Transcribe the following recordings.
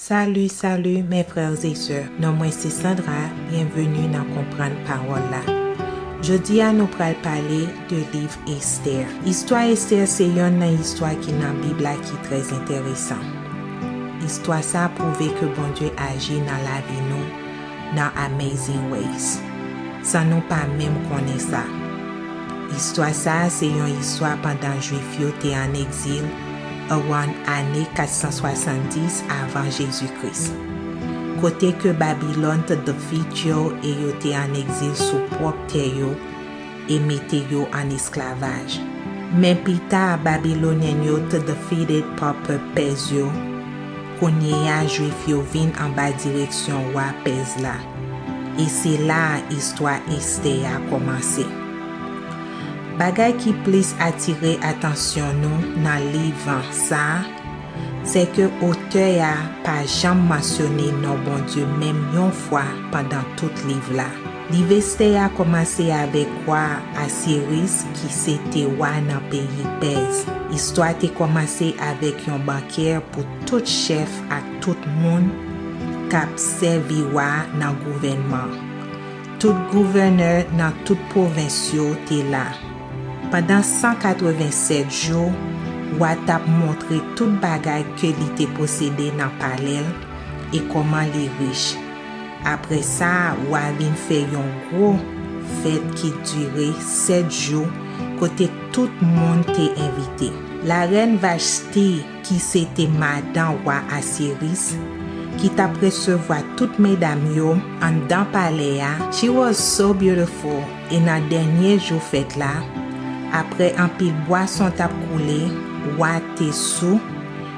Salut salut mes frères et sœurs non mwen se Sandra bienvenue nan konprann pawòl la Jodi a nou pral pale de liv Esther istwa Esther se yonn nan istwa ki nan bib la ki trè entèresan istwa sa pwouve ke Bondye aji nan lavi nou nan Amazing Ways, san nou pa menm konnen sa. Istwa sa a se yon istwa pandan Juif yo te ann egzil around ane 470 avan Jezi Kris, kote ke Babilòn t defeat yo e yo te ann egzil sou pwòp tè yo, e mete yo an esklavaj. Men pita Babylonian yo t defeated pa pèp Pèz yo, kounyeya Jwif yo vin anba direksyon wa Pèz la. E se la a istwa Estè a kòmanse. Bagay ki plis atire atansyon nou nan liv sa, sè ke otè a pa janm mansyone non Bondye menm yon fwa pandan tout liv la. Liveste a kòmanse avèk wa Asyeris ki se te wa nan peyi Pèz. Istwa te kòmanse avèk yon bankè pou tout chèf ak tout moun k ap sèvi wa nan gouvènman. Tout gouvènè nan tout pwovens yo te la. Pandan 187 jou, wa t ap montre tout bagay ke li te posede nan palè l e kòman li rich. Apre sa, w a vin fè yon gwo fèt ki dire sèt jou kote tout moun te envite. Larèn Vachti, ki se te madan wa Asyeris, ki t ap resevwa tout medam yo anndan palè a, she was so beautiful, e nan dènye jou fèt la, apre anpil bwason t ap koule, wa te sou,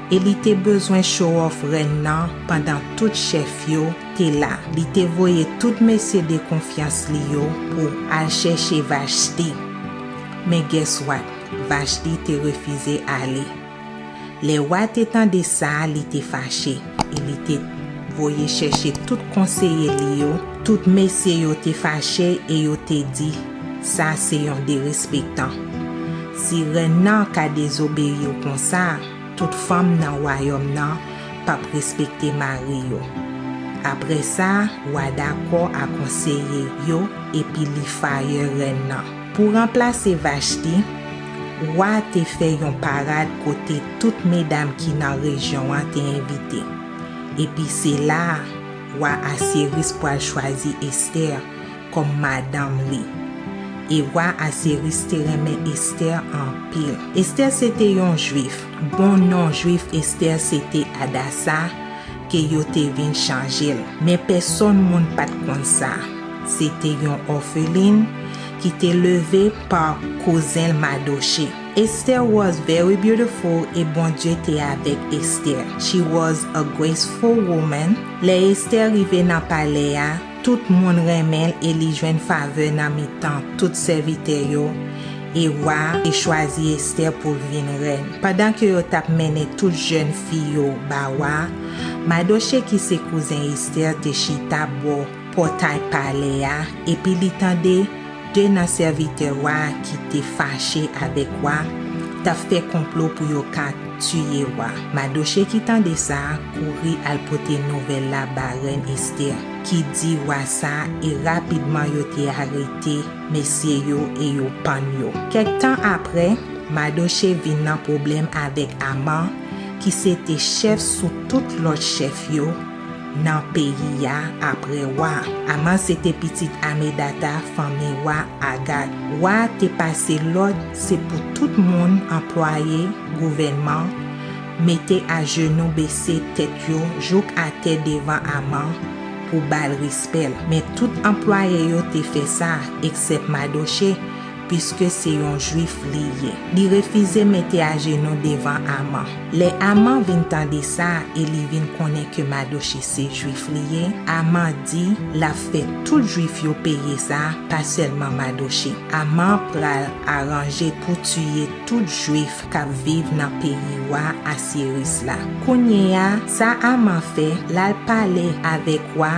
E li te bezwen chowòf rèn nan pandan tout chèf yo te la. Li te voye tout mesye de konfyans li yo pou al chèche Vashti. Men guess what? Vashti te refize ale. Lè wa te tande sa, li te fache e li te voye chèche tout konseye li yo. Tout mesye yo te fache e yo te di. Sa se yon derespektan. Si rèn nan ka dezobeyi w konsa, tout fanm nan wayòm nan p ap respekte mari yo. Apre sa, wa dakò a konseye yo epi li fayè rèn nan. Pou ranplase Vashti, wa a te fè yon parad kote tout medam ki nan rejyon an te envite. Epi se la a, wa Asyeris pral chwazi Esther kòm madanm li. E wa Asyeris te renmen Estè anpil. Estè se te yon Juif. Bon non Juif Estè se te Adasa, ke yo te vin chanje l. Men pèsonn moun pa t konn sa. Se te yon òfelin ki te leve pa kouzen l Madoche. Estè was very beautiful e Bondye te avèk Estè. She was a graceful woman. Lè Estè rive nan palè a, Tout moun renmen l e li jwenn favè nan mitan tout sèvitè yo, e wa a te chwazi Esther pou l vin rèn. Pandan ke yo t ap mennen tout jèn fi yo ba wa a, Madoche ki se kouzen Esther te chita bò pòtay palè a epi li tande De nan sèvitè wa a ki te fache avèk wa a t ap fè konplo pou yo ka tiye wa a. Madoche ki tande sa, kouri al pote nouvèl la ba rèn Estè, ki di wa sa, e rapidman yo te arete mesye yo e yo pann yo. Kèk tan apre, Madoche vin nan pwoblèm avèk Aman, ki se te chèf sou tout lòt chèf yo, Nan peyi a, apre wa. Aman se te pitit Amedata, fanmi wa Agat. Wa a te pase lòd se pou tout moun, anplwaye, gouvènman, mete ajenou bese tèt yo jouk atè devan Aman pou ba l respè l. Men tout anplwaye yo te fè sa, eksèp Madoche, Piske se yon Jwif li ye. Li refize mete ajenou devan Aman. Lè Aman vin tande sa e li vin konnen ke Madoche se Jwif li ye, Aman di l ap fè tout Jwif yo peye sa, pa sèlman Madoche. Aman pral aranje pou tiye tout Jwif k ap viv nan peyi wa Asyeris la. Kounyeya, sa Aman fè, l al pale avèk wa,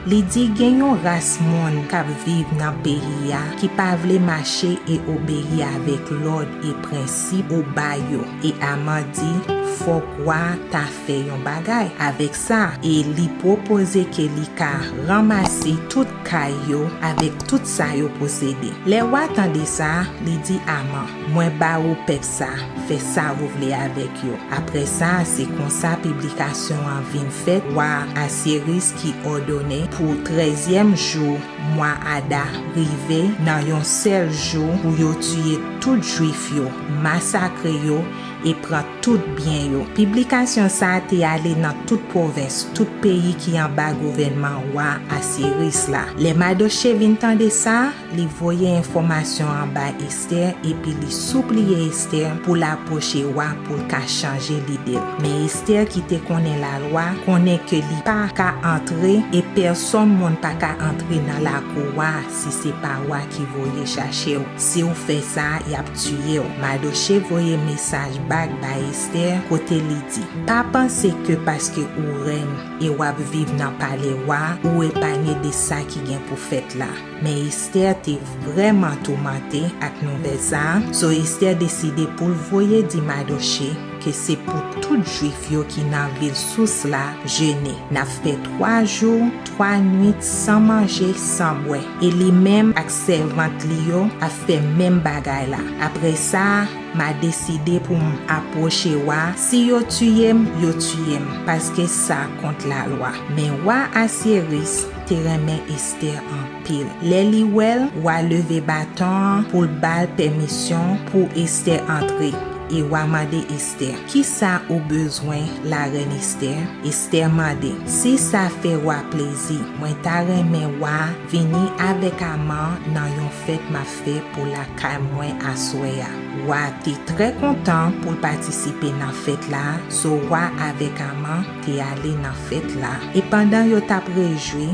Li di gen yon ras moun k ap viv nan peyi a ki pa vle mache e obeyi avèk lòd e prensip ou ba yo e Aman di fòk wa a ta fè yon bagay avèk sa e li pwopoze ke li ka ranmase tout kay yo avèk tout sa yo posede. Lè wa tande sa, li di Aman, Mwen ba ou pèp sa, fè sa ou vle avèk yo. Apre sa, se konsa piblikasyon an vin fèt, wa Asyeris, ki òdone pou trèzyèm jou mwa Ada rive nan yon sèl jou pou yo tiye tout Juif yo, masakre yo e pran tout byen yo. Piblikasyon sa a te ale nan tout pwovens, tout peyi ki anba gouvènman wa Asiris la. Lè Madoche vin tande sa, Li voye enfòmasyon an bay Estè epi li soupliye Estè pou l apwoche wa pou l ka chanje lide l. Men Estè ki te konnen lalwa, konnen ke li pa ka antre e pèsonn moun pa ka antre nan lakou wa si se pa wa ki voye chache w. Si w fè sa, y ap tiye w. Madoche voye mesaj bak bay Estè kote li di, Pa panse ke paske ou rèn e w ap viv nan palè wa, ou epanye de sa ki gen pou fèt la. Men Esther te vrèman toumante ak nouvèl sa a, so Esther deside pou l voye di Madoche ke se pou tout Jwif yo ki nan vil Sous la jene. N ap fè twa jou, twa nwit san manje, san bwè. E li menm ak sèvant li yo ap fè menm bagay la. Apre sa, m a deside pou m apwoche wa, si yo tiye m, yo tiye m, paske sa kont lalwa. Men wa Asyeris, te renmen Esther anpil. Lè li wè l, wa leve baton an pou l ba l pèmisyon pou Esther antre, e wa mande Esther, Kisa ou bezwen, larèn Esther? Esther mande, Si sa fè wa plezi, mwen ta renmen wa vini avèk Aman nan yon fèt m ap fè pou lakay mwen aswè a. Wa te trè kontan pou l patisipe nan fèt la, so wa avèk Aman, te ale nan fèt la, e pandan yo t ap rejwi,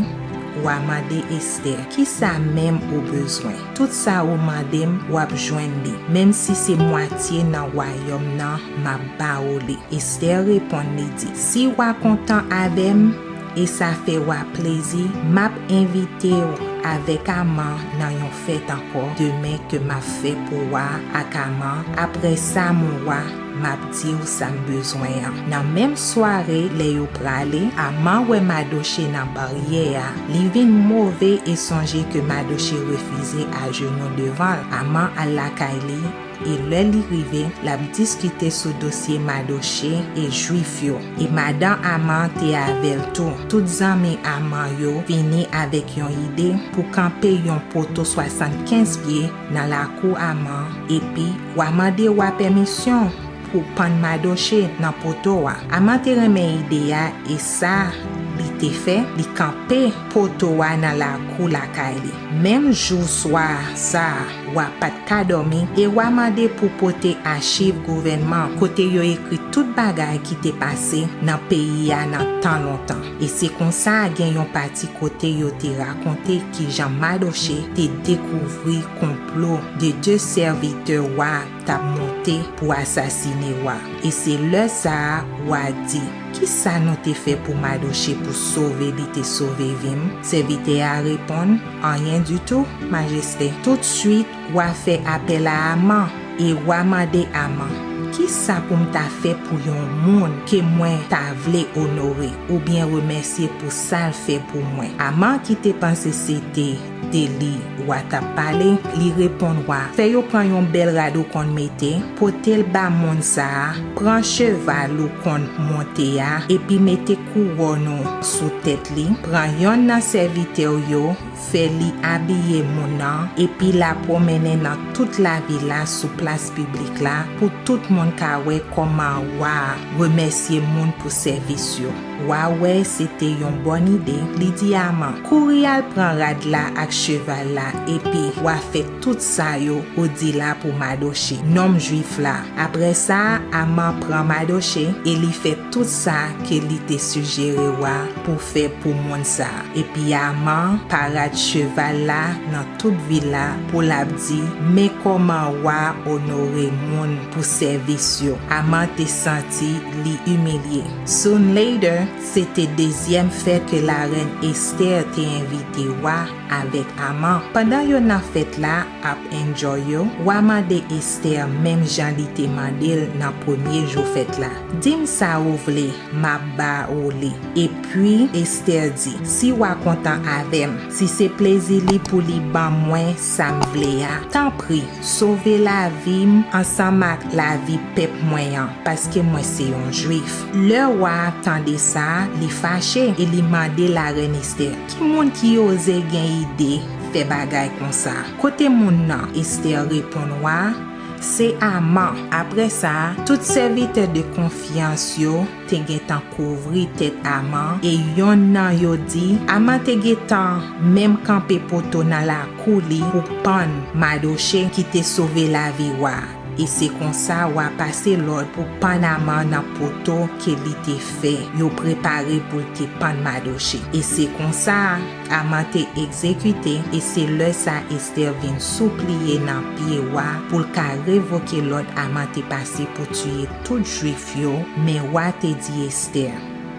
wa mande Estè, Kisa menm ou bezwen? Tout sa ou mande m, w ap jwenn li, menm si se mwatye nan wayòm nan, m ap ba ou li. Estè reponn, li di, Si wa kontan avè m, e sa fè wa plezi, m ap envite ou avèk Aman nan yon fèt ankò demen ke m ap fè pou wa ak Aman, aprè sa mon wa, Map diw sam bezwen an. Nan menm sware lè yo prale Amar wè Madoche nan baryè a li vin move e sonje ke Madoche refize ajenou devanl Amar al lakay li e lè li rive lap diskite sou dosye Madoche e jwif yo e madan Amar te avèl tou tout zanmi Amar yo vini avèk yon ide pou kanpe yon poto 75 pye nan lakou Aman, epi, wa mande wa pèmisyon pou w pann Madoche nan poto a. Aman te renmen ide a, e sa li te fè, li kanpe poto a nan lakou lakay li. Menm jou swa sa a, wa pa t ka dòmi, e wa mande pou pote achiv gouvènman kote yo ekri tout bagay ki te pase nan peyi a nan tan lontan. E se konsa gen yon pati kote yo te rakonte kijan Madoche te dekouvri konplo 2 de sèvitè wa t ap monte pou asasine wa. E se lè sa a wa di, Kisa nou te fè pou Madoche pou sove li te sove vi m? Sèvitè a reponn, Anyen ditou, majeste. Toutswit, Wa fè apèl a Aman, e wa mande Aman, Ki sa pou m ta fè pou yon moun ke mwen ta vle onore oubyen remèsye pou sa l fè pou mwen? Aman ki te panse se te de li wa t ap pale, li reponn wa, Fè yo pran yon bèl rad ou konn mete, pote l ba moun sa a, pran cheval ou konn monte a, epi mete kouwòn ou sou tèt li, pran yonn nan sèvitè w yo, fè li abiye moun nan epi la pwomennen nan tout lavil la sou plas piblik la pou tout moun ka wè kòman wa a remèsye moun pou sèvis yo. Wa wè se te yon bòn ide, li di Aman, Kouri al pran rad la ak cheval la epi w a fè tout sa yo ou di la pou Madoche, nonm Juif la. Apre sa, Aman pran Madoche e li fè tout sa ke li te sijere wa pou fè pou moun sa a. Epi Aman parad cheval la nan tout vil la pou l ap di, Men kòman wa onore moun pou sèvis yo. Aman te santi li imilye. Soon later, se te dezyèm fèt ke Larèn Esther te envite wa avèk Aman. Pandan yo nan fèt la ap enjoy yo, wa mande Esther menm jan li te mande l nan premye jou fèt la, Di m sa ou vle, Mabaoli. Epi, Estè di, Si wa kontan avè m, si se plezi li pou li ban mwen sa m vle a, tanpri, sove lavi m ansanm ak lavi pèp mwen an, paske mwen se yon Juif. Lè wa a tande sa, li fache e li mande larèn Estè, Ki moun ki oze gen ide fè bagay konsa? Kote moun nan? Estè reponn wa a, Se aman. Apre sa, tout sèvitè de konfyans yo te gentan kouvri tèt Aman, e yonn nan yo di, Aman te gentan menm kanpe poto nan lakou li pou pann Madoche ki te sove lavi wa a, e se konsa wa pase lòd pou pann Aman nan poto ke li te fè yo prepare pou l te pann Madoche. E se konsa. Aman te egzekite, e se lè sa Estè vin soupliye nan pye wa pou l ka revoke lòd Aman te pase pou tiye tout Jwif yo, men wa te di Estè,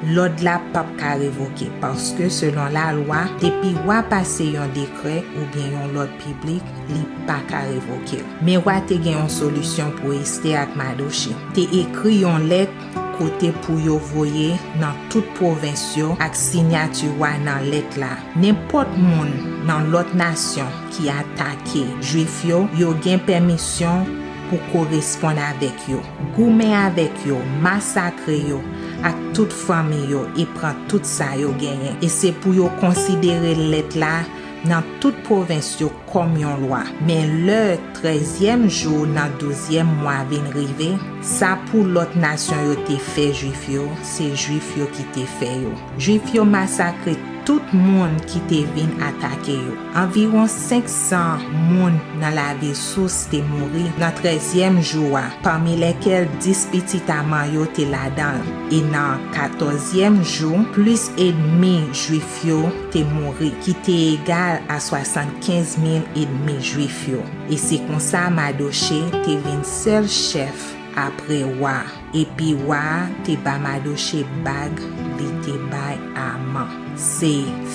Lòd la pap ka revoke, paske selon lalwa, depi wa pase yon dekrè oubyen yon lòd piblik, li pa ka revoke l. Men wa te gen yon solisyon pou Estè ak Madoche. Te ekri yon lèt kote pou yo voye nan tout pwovens yo ak sinyati wa nan lèt la. Nenpòt moun nan lòt nasyon ki atake Jwif yo, yo gen pèmisyon pou koresponn avèk yo, goumen avèk yo, masakre yo ak tout fanmi yo e pran tout sa yo genyen. E se pou yo konsidere lèt la nan tout pwovens yo kòm yon lwa. Men lè trèzyèm jou nan douzyèm mwa vin rive, sa pou lòt nasyon yo te fè Juif yo, se Juif yo ki te fè yo. Juif yo masakre tout moun ki te vin atake yo. Anviwon senksan moun nan lavil Sous te mouri nan trèzyèm jou a, pami lèkèl dis pitit Aman yo te ladan l, e nan katòzyèm jou, plis edmi Juif. yo te mouri, ki te egal a swasantkenz mil edmi Juif yo, e se konsa Madoche te vin sèl chèf apre wa a. Epi wa a te ba Madoche bag li te bay Aman. Se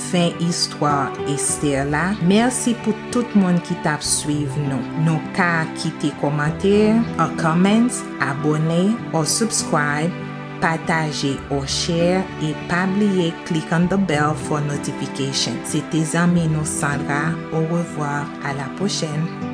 fen istwa Estè la. Mèsi pou tout moun ki t ap suiv nou. Nou ka kite kòmantè, or comments, abone, or subscribe. Pataje or share e pa bliye click on the bell for notification se te zanmi nou Sandra au revoir à la prochaine.